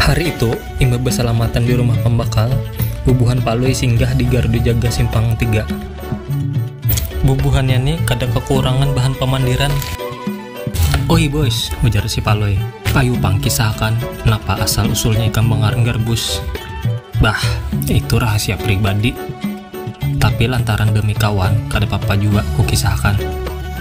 Hari itu, imbah basalamatan di rumah pambakal, bubuhan Palui singgah di gardu jaga simpang tiga. Bubuhannya ni kada kakurangan bahan pamandiran. Oi bus, ujar si Palui, ayu pang kisahakan napa asal-usulnya ikam bangarang garbus. Bah, itu rahasia pribadi. Tapi lantaran demi kawan, kada papa jua kukisahkan.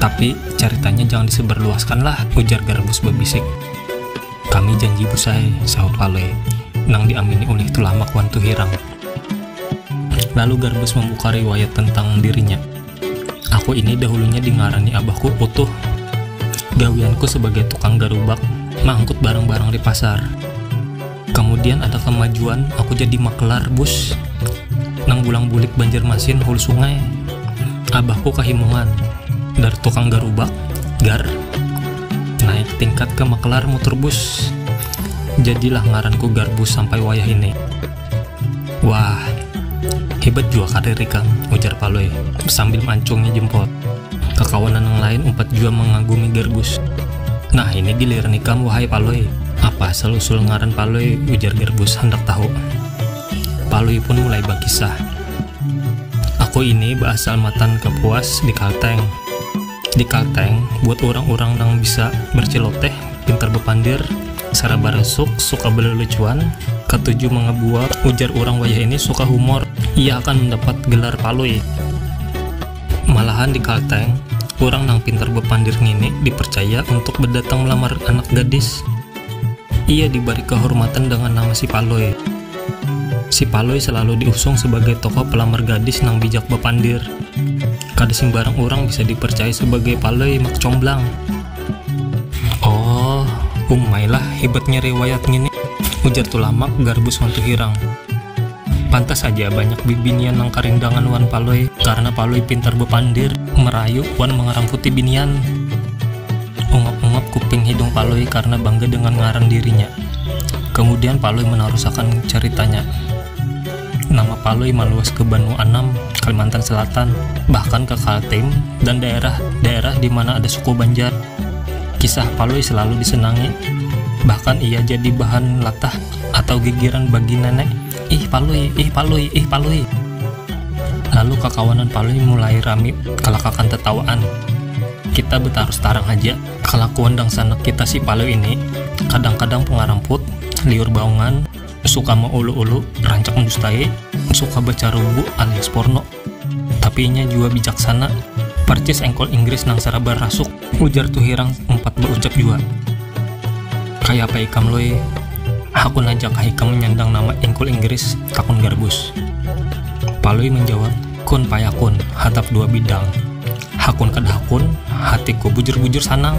Tapi, caritanya jangan disebarluaskan lah, ujar Garbus babisik. Kami janji Bus ai, sahut Palui nang diamini ulih Tulamak wan Tuhirang. Lalu Garbus mambuka riwayat tentang dirinya. Aku ini dahulunya dingarani abahku Utuh. Gawianku sabagai tukang garubak, maangkut barang-barang di pasar. Kamudian ada kamajuan aku jadi maklar bus nang bulang bulik Banjarmasin hulu sungai. Abahku kahimungan, dar tukang garubak, gar, naik tingkat ka maklar mutur bus. Jadilah ngaranku Garbus sampai wayah ini. Wah, hebat jua karir ikam, ujar Palui sambil mancungi jempol. Kakawanan nang lain umpat jua mangagumi Garbus. Nah, ini giliran ikam wahai Palui. Apa asal usul ngaran Palui, ujar Garbus handak tahu. Palui pun mulai bakisah. Aku ini baasal matan Kapuas di Kalteng. di Kalteng buat urang-urang nang bisa berceloteh, pintar bepandir, sara barasuk, suka belelucuan, katuju mangabual, ujar urang wayah ini suka humor, ia akan mendapat gelar Palui. Malahan di Kalteng, urang nang pintar bepandir ngini dipercaya untuk bedatang melamar anak gadis. Ia dibari kehormatan dengan nama Si Palui. Si Palui salalu diusung sabagai tokoh pelamar gadis nang bijak bapandir. Kada simbarang urang bisa dipercayai sabagai Palui Mak Comblang. Oh, umailah hibatnya riwayat ngini, ujar Tulamak Garbus wan Tuhirang. Pantas haja banyak bibinian nang karindangan wan Palui, karna Palui pintar bapandir, merayu, wan mangaramputi binian. Ungap-ungap kuping hidung Palui karna bangga dengan ngaran dirinya. Kamudian Palui manarusakan caritanya. Nama Palui maluas ke Banua Anam, Kalimantan Selatan, bahkan ke Kaltim dan daerah-daerah di mana ada suku Banjar. Kisah Palui selalu disenangi, bahkan ia jadi bahan latah. Atau gigiran bagina ne, Ih Palui, ih Palui, ih Palui. Lalu kakawanan Palui mulai rami kalakakan tatawaan. Kita betarus tarang haja, kalakuan dangsanak kita si Palui ini, kadang-kadang pangaramput, liur baungan, suka maulu-ulu, rancak mendustai, suka bacarubu alias porno. Tapi inya jua bijaksana, parcis engkol Inggris nang sarabar rasuk, ujar Tuhirang umpat baucap jua. Kaya apa ikam Lui, hakun haja kah ikam manyandang nama engkol Inggris, takun Garbus. Palui manjawab, kun payakun, hatap dua bidang. Hakun kada hakun, hatiku bujur-bujur sanang.